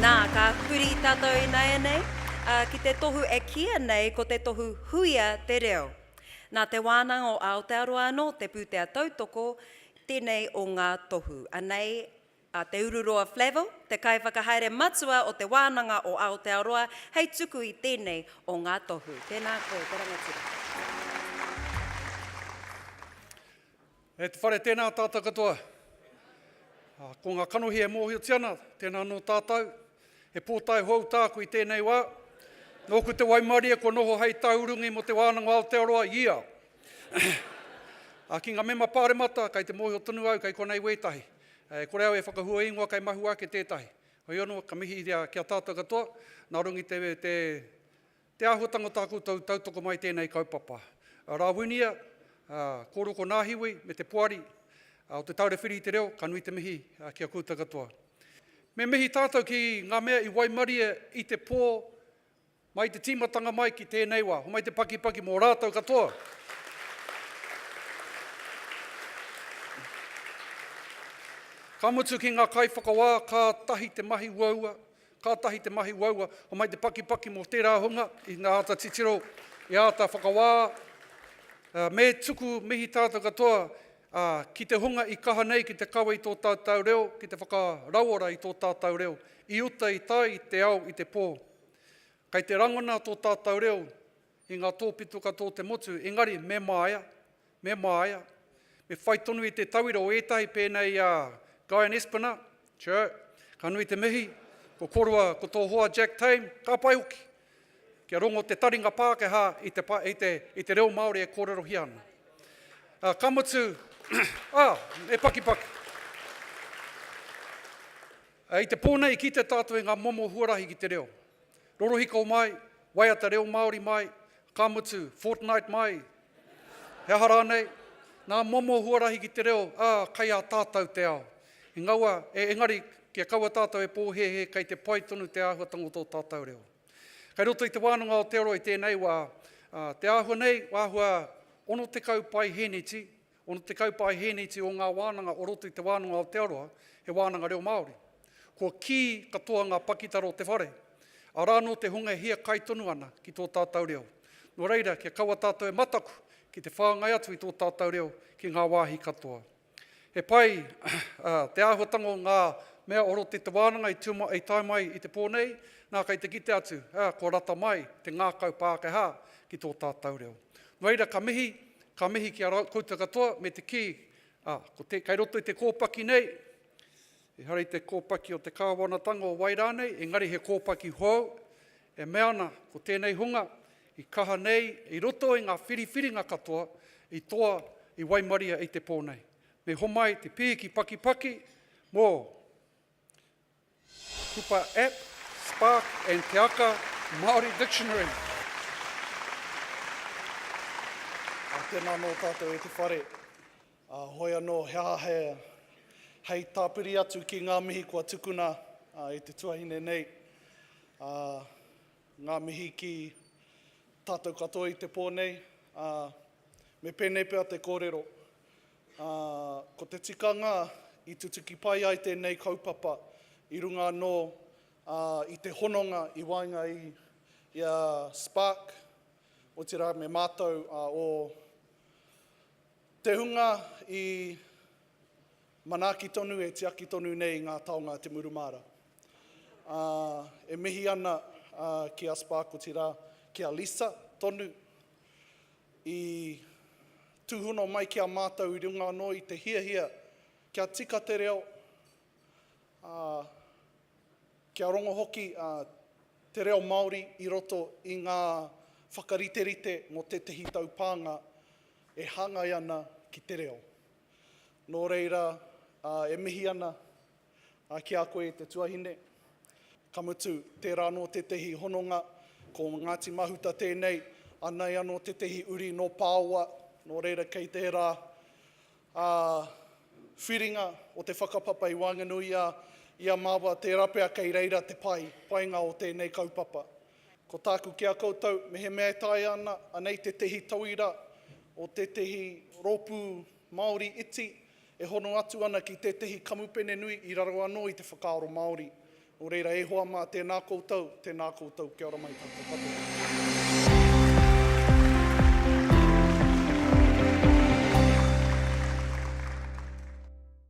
Nā, ka huri tātou ināianei ki te tohu e kīia nei ko te tohu Huia te Reo. Nā Te Wānanga o Aotearoa anō te pūtea tautoko tēnei o ngā tohu. Anei a Te Ururoa Flavell, te kaiwhakahaere matua o Te Wānanga o Aotearoa hei tuku i tēnei o ngā tohu. Tēnā koe, te rangatira. E te whare, tēnā tātou katoa. Ko ngā kanohi e mōhiotia ana, tēnā anō tātou. He pōtae hou tāku i tēnei wā. Nōku te waimarie kua noho hei tauurungi mō te wānanga o Aotearoa i ao. Ki ngā mema pāremata, kei te mōhio tonu au kei konei wētahi. E kore au e whakahua ingoa kei mahue ake tētahi. Heoi anō, ka mihi ki a tātou katoa, nā runga i te Te āhuatanga o tā koutou tautoko mai tēnei kaupapa. Rāwinia, Kōroko Nāhiwi me te Poari o Te Taura Whiri i te Reo, ka nui te mihi ki a koutou katoa. Me mihi tātou ki ngā mea i waimarie i te pō mai te tīmatanga mai ki tēnei wā. Homai te pakipaki mō rātou katoa. Ka mutu ki ngā kaiwhakawā, kātahi te mahi uaua, Kātahi te mahi uaua, homai te pakipaki mō tērā hunga i nga āta titiro, i āta whakawā. Me tuku mihi tātou katoa ki te hunga i kaha nei ki te kawe i tō tātou reo, ki te whakarauora i tō tātou reo, i uta i tai te ao i te pō. Kei te rangona tō tātou reo. I ngā tōpito katoa o te motu, engari me māia, me māia, me whai tonu i te tauira o ētahi pēnei a Guyon Espiner, tjö, ka nui te mihi, ko korua ko tō hoa Jack Tame, ka pai hoki, kia rongo te taringa Pākehā i te, i te, i te reo Māori e kōrerohia ana. Ā, ka mutu, ā, e pakipaki. Ā, i te pō nei, kite tātou i ngā momo huarahi ki te reo. Rorohiko mai, waiata reo Māori mai, ka mutu, fortnight mai, he aha rānei, ngā momo huarahi ki te reo, ā, kei a tātou te ao. I ngaua, e, engari, kia kaua tātou e pōhēhē kei te pai tonu te āhuatanga o tō tātou reo. Kei roto i te wānanga Aotearoa i tēnei wā, ā, te āhua nei, āhua 60 paihēneti, Ono te kaupāhēneti o ngā wānanga o roto i Te Wānanga o Aotearoa, he wānanga reo Māori. Kua kī katoa ngā pakitara o te whare, arā anō te hunga e hiakai tonu ana ki tō tātou reo. Nō reira, kia kaua tātou e mataku ki te whāngai atu i tō tātou reo ki ngā wāhi katoa. He pai te āhuatanga o ngā mea o roto i te wānanga i tae mai i te pō nei, nā kei te kite atu, kua rata mai te ngākau Pākehā ki tō tātou reo. Nō reira, ka mihi, Ka mihi ki a ra, koutou katoa, me te ki, a, ko te, kei roto i te kōpaki nei, ehara i te kōpaki o te Kāwanatanga o wai rānei, engari he kōpaki hou, e mea ana, ko tēnei hunga, i kaha nei, i roto i ngā whiriwhiringa katoa, i toa, i waimaria i te pō nei. Me homai te pīki pakipaki, mō. Kupa App, Spark and Te Aka Māori Dictionary. Ā, tēnā anō tātou e te whare. Ā, hoi anō, he aha he, hei tāpiri atu ki ngā mihi kua tukuna e te tuahine nei. Ā, ngā mihi ki tātou katoa i te pō nei. Ā, me pēnei pea te kōrero. ā, ko te tikanga i tutuki pai ai tēnei kaupapa i runga anō i te hononga i waenga i a Spark, otirā me mātou o te hunga i manaaki tonu e tiaki tonu nei ngā taonga a Te Muru Māra. Ā, e mihi ana ki a Spark, otirā ki a Lisa tonu i Tūhono mai ki a mātou i runga anō i te hiahia kia tika te reo, ā, kia rongo hoki te reo Māori i roto i ngā whakariterite mō tētehi taupānga e hāngai ana ki te reo. Nō reira, e mihi ana Ā, ki a koe, te tuahine, ka mutu, tērā anō tētehi hononga, ko Ngāti Mahuta tēnei, anei anō tētehi uri nō Pāoa, nō reira kei tērā ā, whiringa o te whakapapa i waenganuia i a māua, tērā pea kei reira te pai, painga o tēnei kaupapa. Ko tāku ki a koutou, mehemea e taea ana, anei tētehi tauira o tētehi rōpū Māori iti, e hono atu ana ki tētehi kamupene nui i raro anō i te whakaaro Māori. Nō reira e hoa mā, tēnā koutou, tēnā koutou, kia ora mai tātou katoa.